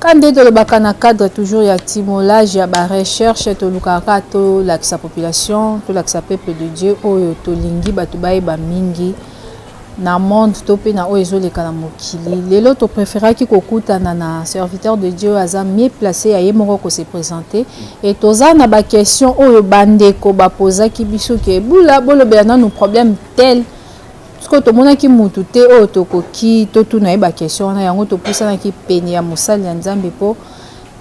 Ka nde tolobaka na cadre toujours ya timolage ya ba recherche tolukaka kaka tolakisa population tolakisa peuple de Dieu oyo tolingi bato bayeba mingi na monde to mpe na oyo ezoleka na mokili lelo topreferaki kokutana na serviteur de dieu aza mieux place ya ye moko kose présente e toza na baquestion oyo bandeko bapozaki biso ke bula bolobela nanu problème tel sikoyo tomonaki mutu te oyo tokoki totuna ye bakestion wana yango topusanaki pene ya mosali ya nzambe mpo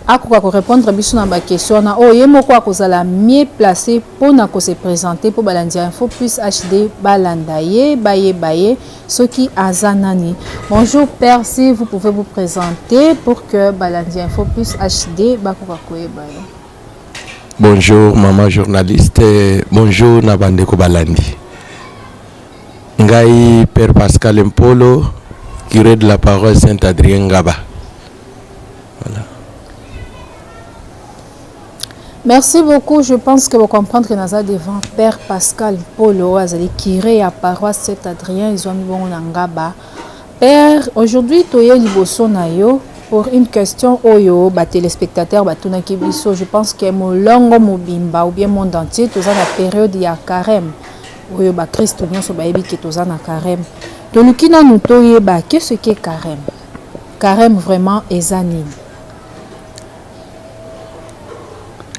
akoka korepondre biso na bakestion wana oyo ye moko akozala mieux place mpo na kose presente mpo balandi ya info plus hd balanda ye bayeba ye soki aza nani bonjour père si vous pouvez vous présenter pour que balandi ya info plus hd bakoka koyeba ye bonjour maman journaliste bonjour na bandeko balandi Ngai père Pascal Mpolo, curé de la paroisse Saint Adrien Ngaba. Voilà. Merci beaucoup. Je pense que vous comprenez que naza devant Père Pascal Polo, azali curé à paroisse Saint-Adrien, ils ont mis bon ngaba. Père, aujourd'hui toye liboso na yo pour une question oyo ba téléspectateurs batunaki biso. Je pense que molongo mobimba ou bien monde entier toza na période ya carême. oyo ba kristo nionso bayebi ke toza na careme toluki nanu toyeba ke ce ke careme careme vraiment eza nini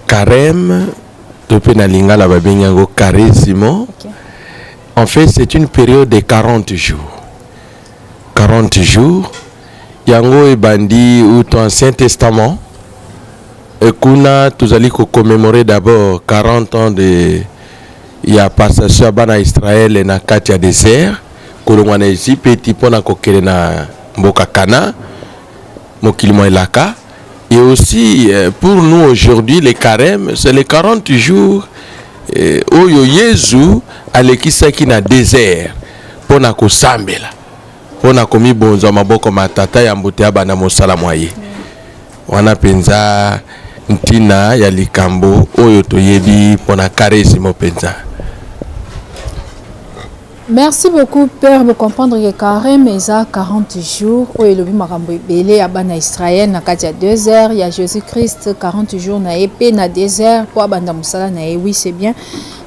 careme to mpe na lingala babengi yango caressimo okay. en fait c'est une période de 40 jours 40 jours yango ebandi uto ancien testament et kuna tozali ko commémorer d'abord 40 ans de ya passation ya bana ya Israele na kati ya desert kolongwa na Ezipeti mpo na kokende na mboka Kana, mokili mwa elaka. Et aussi euh, pour nous aujourd'hui le carême c'est les 40 jours euh, oyo Yezu alekisaki na desert mpo na kosambela mpo na komibonza maboko ma tata ya mbuta ya bana mosala mwa ye. Wana mpenza ntina ya likambo oyo toyebi mpo na Karezimo mpenza. Merci beaucoup père bo comprendre que carême eza 40 jours oyo elobi makambo ebele ya bana Israël na kati ya 2 heures ya Jésus Christ 40 jours na ye mpe na 2 heures mpo abanda mosala na ye oui c'est bien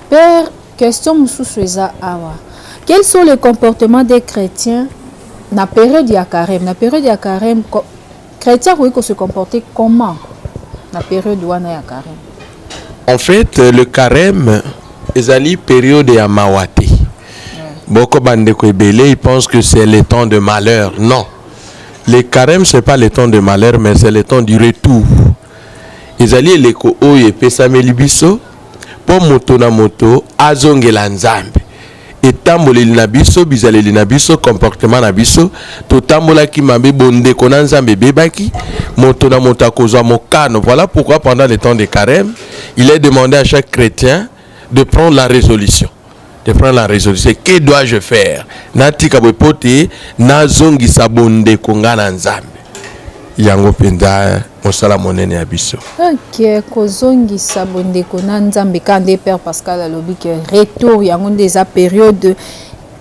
père question mosusu eza awa quels sont les comportements des chrétiens na période ya carême na période ya carême Chretien akoki ko se comporter comment na periode wana ya carême? En fait, euh, le carême ezali periode ya mawa te. Boko bandeko ebele, ils pensent que c'est le temps de malheur. Non. Le carême c'est pas le temps de malheur, mais c'est le temps du retour. Ezali eleko oyo epesameli biso mpo moto na moto azongela Nzambe. etamboleli na biso, bizaleli na biso, comportement na biso, totambolaki mabe, bondeko na Nzambe ebebaki, moto na moto akozwa mokano. Voilà pourquoi pendant les temps de carême, il est demandé à chaque chrétien de prendre la résolution de prendre la résolution que dois-je faire natika boye mpo te nazongisa bondeko ngai na nzambe yango mpenza mosala monene ya biso ok kozongisa bondeko na nzambe ka nde père pascal alobi ke retour yango nde eza periode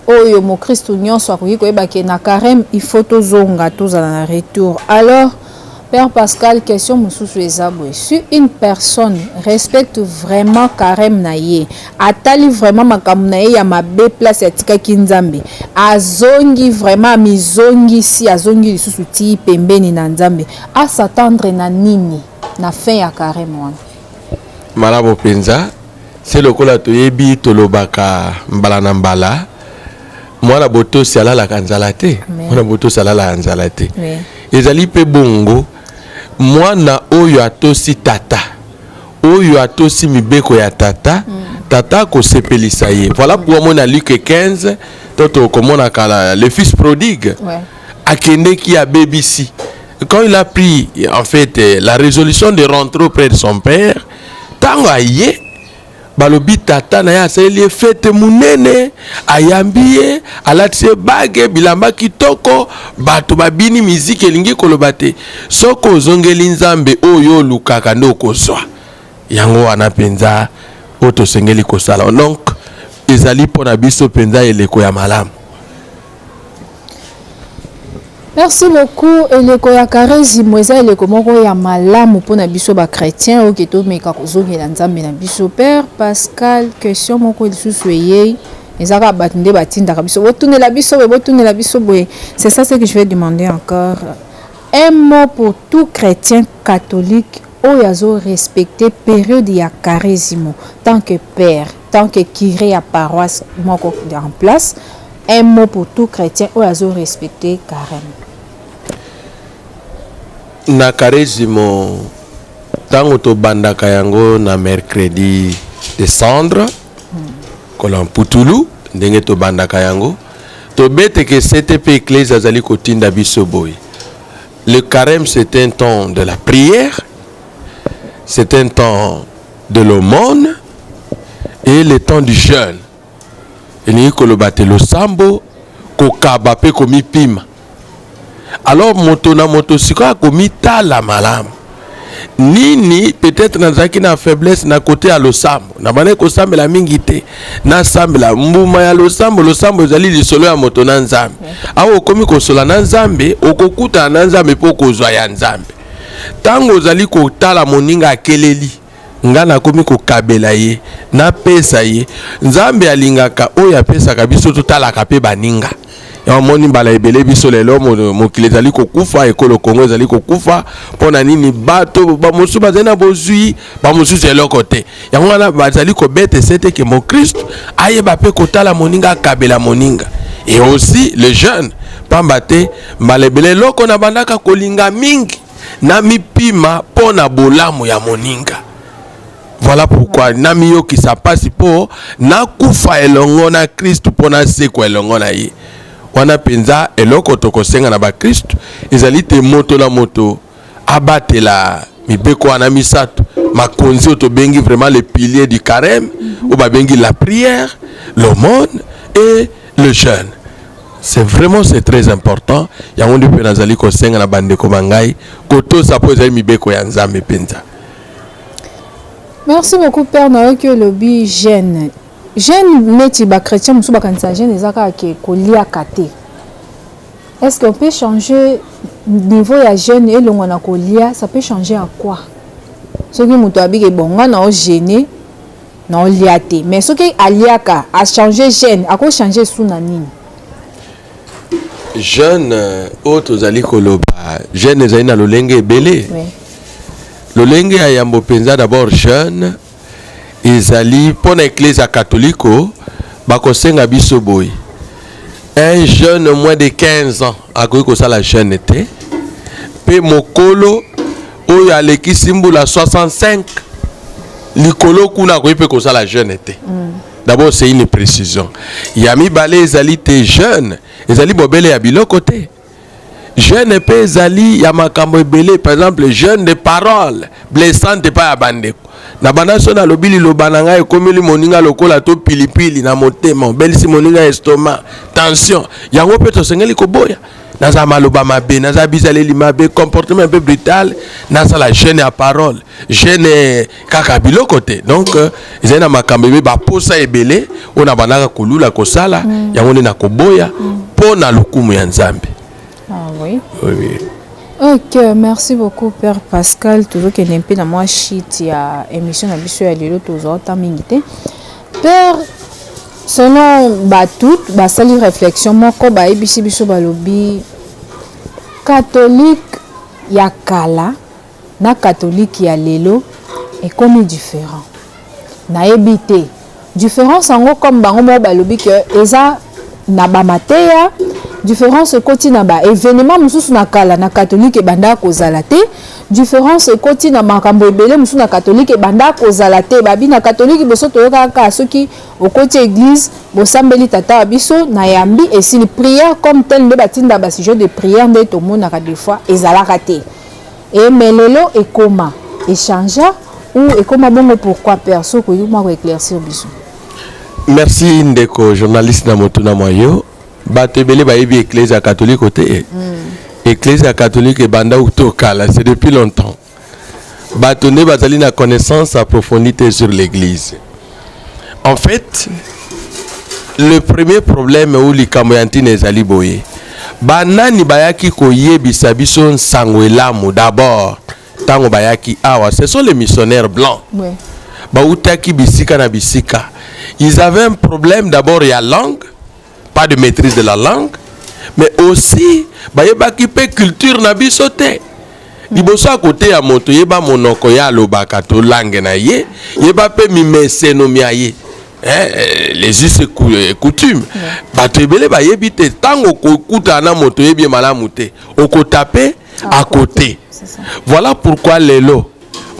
oyo mokristu nyonso akoki koyeba ke na carême il faut tozonga tozala na retour alors père pascal question mosusu eza boye si une personne respecte vraiment carême na ye atali vraiment makambo na ye ya mabe place atikaki nzambe azongi vraiment amizongisi azongi lisusu tii pembeni na nzambe A s'attendre na nini na fin ya careme wana? Malamu penza, se lokola toyebi tolobaka mbala na mbala mwana botosi alalaka nzala te mwana botosi alalaka nzala te ezali mpe bongo mwana oyo atosi tata oyo atosi mibeko ya tata mm. tata akosepelisa ye voilà pourquoi mona luke 15 to tokomona kala le fils prodigue ouais. akendeki abebisi quand il a pris en fait euh, la résolution de rentrer auprès de son père ntango aye balobi tata na ye asaleli ye fete monene ayambi ye alatisi ye bage bilamba kitoko bato babini miziki elingi koloba te soki ozongeli nzambe oyo olukaka nde okozwa yango wana mpenza oyo tosengeli kosala donc ezali mpo na biso mpenza eleko ya malamu Merci beaucoup eleko ya karezimo eza eleko moko ya malamu mpo na biso bachrétien oyo ketomeka kozongela nzambe na biso père pascal question moko lisusu eyei eza kaka bato nde batindaka biso botunela biso boye botunela biso boye c'est ça ce que je vais demander encore un mot pour tout chrétien catholique oyo azorespecte période ya karezimo tant que père tant que cure ya paroisse moko en place un mot pour tout chrétien oyo azo respecter carême na karezimo ntango tobandaka yango na mercredi de cendre kola mputulu ndenge tobandaka yango tobeteke ctp eklese azali kotinda biso boye le carême c'est un temps de la prière c'est un temps de l'aumône et le temps du jeûne elingi koloba te losambo kokaba mpe komipima alors moto na moto sikoyo akomitala malamu nini peut-être nazalaki na faiblesse na kote ya losambo nabandaki kosambela mingi te nasambela mbuma ya losambo losambo ezali lisolo ya moto na nzambe awa okomi kosola na nzambe okokutana na nzambe mpo okozwa ya nzambe Ntango ozali kotala moninga akeleli, ngai nakomi kokabela ye, napesa ye. Nzambe alingaka oyo apesaka biso, totalaka mpe baninga. Omoni mbala ebele biso lelo mokili ezali kokufa, ekolo Kongo ezali kokufa. Mpo na nini? Bato bamosusu bazali na bozwi, bamosusu eloko te. Yango wana bazali kobeta esete ke mokristo ayeba mpe kotala moninga, akabela moninga. Et aussi le jeune, pamba te Mbala ebele eloko nabandaka kolinga mingi namipima mpo na bolamu ya moninga voilà pourquoi namiyokisa mpasi mpo nakufa elongo na kristu mpo nasekwa elongo na ye wana mpenza eloko tokosenga na bakristu ezali te moto na moto abatela mibeko wana misato makonzi oyo tobengi vraiment le pilier du carême oyo babengi la prière l'aumône et le jeune c'est vraiment c'est très important yango nde mpe nazali kosenga na bandeko ba ngai kotosa mpo ezali mibeko ya nzambe mpenza merci beaucoup père nayoki olobi jeune jeune neti bachrétien mosusu bakanisaka jeune eza kaka ke koliaka te Est ce qu'on peut changer niveau ya jeune elongwa na kolia ça peut changer à quoi soki moto abiki bon nga nao gene nao lia te mais soki aliaka achange jeune akochange esu na nini jeune euh, oyo tozali koloba jeune ezali na lolenge ebele oui. lolenge ya yambo mpenza d'abord jeune ezali mpo na Eklezia katoliko, bakosenga biso boye, un jeune moins de 15 ans akoki kosala jeune te, mpe mokolo oyo alekisi mbula 65 likolo kuna akoki mpe kosala jeune te mm. d'abord c'est une précision ya mibale ezali te jeune ezali bobele ya biloko te jeune mpe ezali ya makambo ebele par exemple jeune de parole blessante epai ya bandeko na banda so nalobi liloba na ngai ekomeli moninga lokola to pilipili na motema obelisi moninga estoma tension yango mpe tosengeli koboya naza maloba mabe naza bizaleli mabe comportement mpe brutal nasala jeune ya parole jeune kaka biloko te donc euh, ezali na makambo ebe baposa ebele oyo na bandaka kolula kosala mm. yango nde nakoboya mpo mm. na lokumu ya nzambe ah, oui. Oui, oui. ok merci beaucoup père pascal tozokende mpe na mwa shit ya émission na biso ya lelo tozwa ota mingi te père selon bato basali réflexion moko bayebisi biso balobi catholique ya kala na catholique ya lelo ekomi different nayebi te difference yango comme bango moko balobi ke eza na ba mateya différence ekoti na ba événement mosusu na kala na catholique ebandaka kozala te différence ekoti na makambo ebele mosusu na catholique ebandaka kozala te babi na catholique boso toyokaka kaka soki okoti église bosambeli tata wa biso na yambi esili prière comme tel nde batinda basujet de prière nde tomonaka des fois ezalaka te Et mais lelo ekoma echangea ou ekoma bongo pourquoi père soki okoki mwa ko éclaircir biso merci ndeko journaliste na motuna mwa yo bato ebele bayebi eklezia ya katoliko te eh. mm. eklezia ya katoliko ebanda uto kala c'est depuis longtemps bato nde bazali na connaissance approfondie te sur l'église En fait, le premier problème ou likambo ya ntina ezali boye banani bayaki koyebisa biso nsango elamu d'abord ntango bayaki awa ce sont les missionnaires blancs ouais. bautaki bisika na bisika ils avaient un problème d'abord ya langue pas de maîtrise de la langue mais aussi bayebaki mpe culture na biso te liboso ya koteya moto yeba monoko ye alobaka to langue na ye yeba mpe mimeseno mia ye eh, les us et coutume bato ebele bayebi te ntango okokutana na moto oyebi ye malamu te okotape à côté voilà pourquoi lelo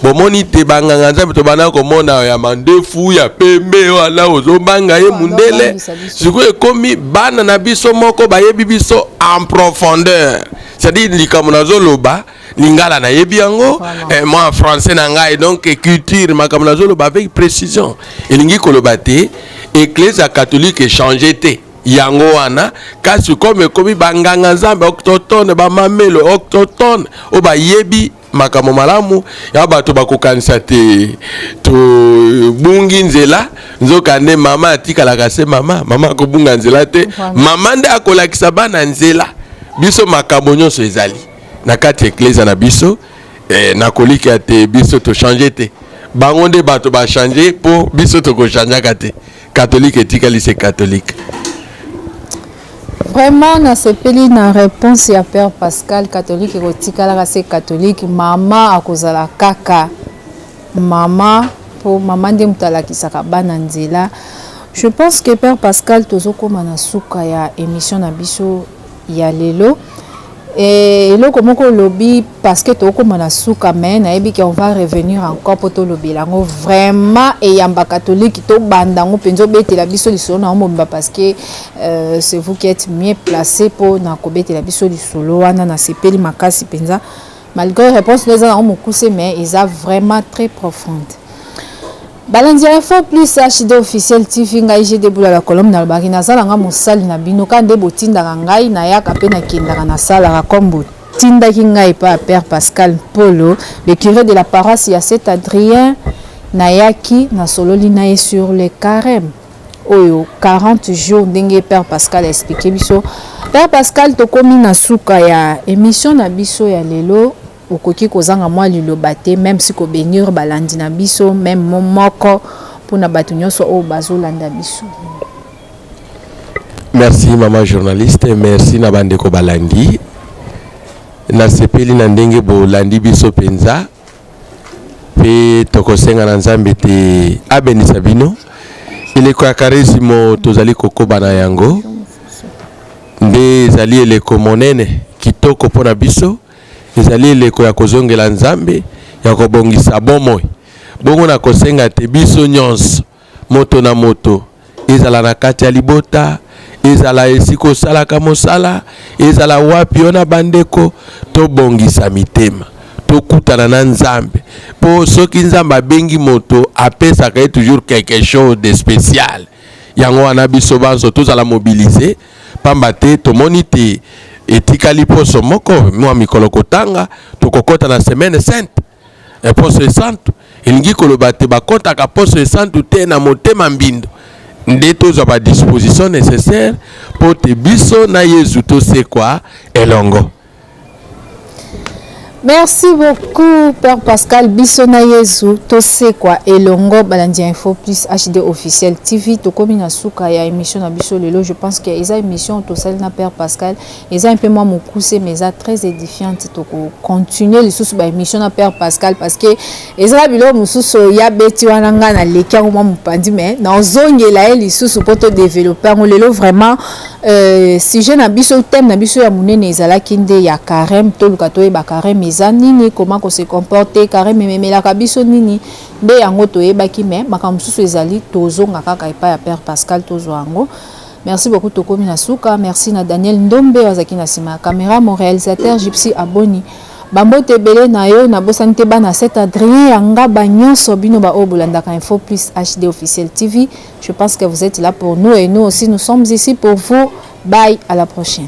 bomoni te banganga nzambe tobanda komona ya mandefu ya pembe wana ozobanga ye mundele sikoyo ekomi bana na biso moko bayebi biso en profondeur c'est-à-dire likambo nazoloba lingala nayebi yango voilà. eh, moi français na ngai donc culture makambo nazoloba avec précision elingi koloba te eklezia catholique echange te yango wana kasi comme ekomi banganga nzambe octotone bamamelo octotone oyo bayebi makambo malamu ya bato bakokanisa te tobungi nzela nzokande mama atikalaka se mama mama akobunga nzela te mama nde akolakisa bana nzela biso makambo nyonso ezali na kati ya eklezia na biso eh, nakolikya te biso tochange te bango nde bato bachange mpo biso tokochangeaka te Catholique etikali se catholique. Vraiment nasepeli na réponse ya Père Pascal catholique ekotikalaka se catholique mama akozala kaka mama po mama nde moto alakisaka bana nzela. Je pense que Père Pascal tozokoma na suka ya émission na biso ya lelo et eloko moko olobi parce que tokoma na suka mais nayebi ke on va revenir encore mpo tolobela yango vraiment eyamba katolike tobanda yango mpenza obetela biso lisolo na yango mobimba parce que euh, c'est vous qui êtes mieux placé mpo na kobetela biso lisolo wana nasepeli makasi mpenza Malgre reponse no eza nango mokuse mais eza vraiment très profonde. Balandi ya Info Plus HD officiel TV ngai je deboula la colombe nalobaki naza na nga mosali na bino ka nde botindaka ngai nayaka mpe nakendaka nasalaka kombo atindaki ngai epai ya père pascal mpolo le curé de la paroisse ya saint adrien nayaki nasololi na ye sur le carême oyo 40 jours ndenge père pascal a expliqué biso père pascal tokomi na suka ya émission na biso ya lelo okoki kozanga mwa liloba te même si kobenir balandi na biso même mo moko mpo na bato nyonso oyo bazolanda biso merci mama journaliste merci na bandeko balandi nasepeli na ndenge bolandi biso mpenza mpe tokosenga na nzambe te abenisa bino eleko ya karisimo tozali kokoba na yango nde ezali eleko monene kitoko mpo na biso ezali eleko ya kozongela nzambe ya kobongisa bomoi bongo na kosenga te biso nyonso Moto na moto, ezala na kati ya libota, ezala esika osalaka mosala, ezala wapi yo na bandeko, tobongisa mitema, tokutana na Nzambe. Mpo soki Nzambe abengi moto, apesaka ye toujours quelque chose de spécial. Yango wana biso banso tozala mobiliser, pamba te tomoni te etikali poso moko mwa mikolo kotanga, tokokota na semaine sainte. E Poso Esantu, elingi koloba te bakotaka Poso Esantu te na motema mbindo, nde tozwa ba dispositions necessaires mpo te biso na Yezu tosekwa elongo. Merci beaucoup Père Pascal biso na Yezu tosekwa elongo balandi ya Info Plus HD officiel TV tokomi na suka ya émission na biso lelo je pense que eza émission tosali na Père Pascal Eza un peu mwa mokuse mais eza très édifiante toko continuer lisusu ba émission na père Pascal parce que ezala biloko mosusu ya beti wana nga na leki yango mwa mopandi mais nazongela ye lisusu mpo to développer yango lelo vraiment euh, sujet na biso thème na biso ya monene ezalaki nde ya carême toluka toyeba carême eza nini comment ko se comporter carême ememelaka biso nini nde yango toyebaki mais makambo mosusu ezali tozonga kaka epai ya père Pascal tozwa yango Merci beaucoup tokomi na suka merci na Daniel Ndombe oyo azalaki na nsima ya kamera mon réalisateur Gypsy Aboni bambote ebele na yo nabosani te bana cet Adrien ya ngaba nyonso bino baoyo bolandaka info plus HD officiel TV je pense que vous êtes là pour nous et nous aussi nous sommes ici pour vous bye à la prochaine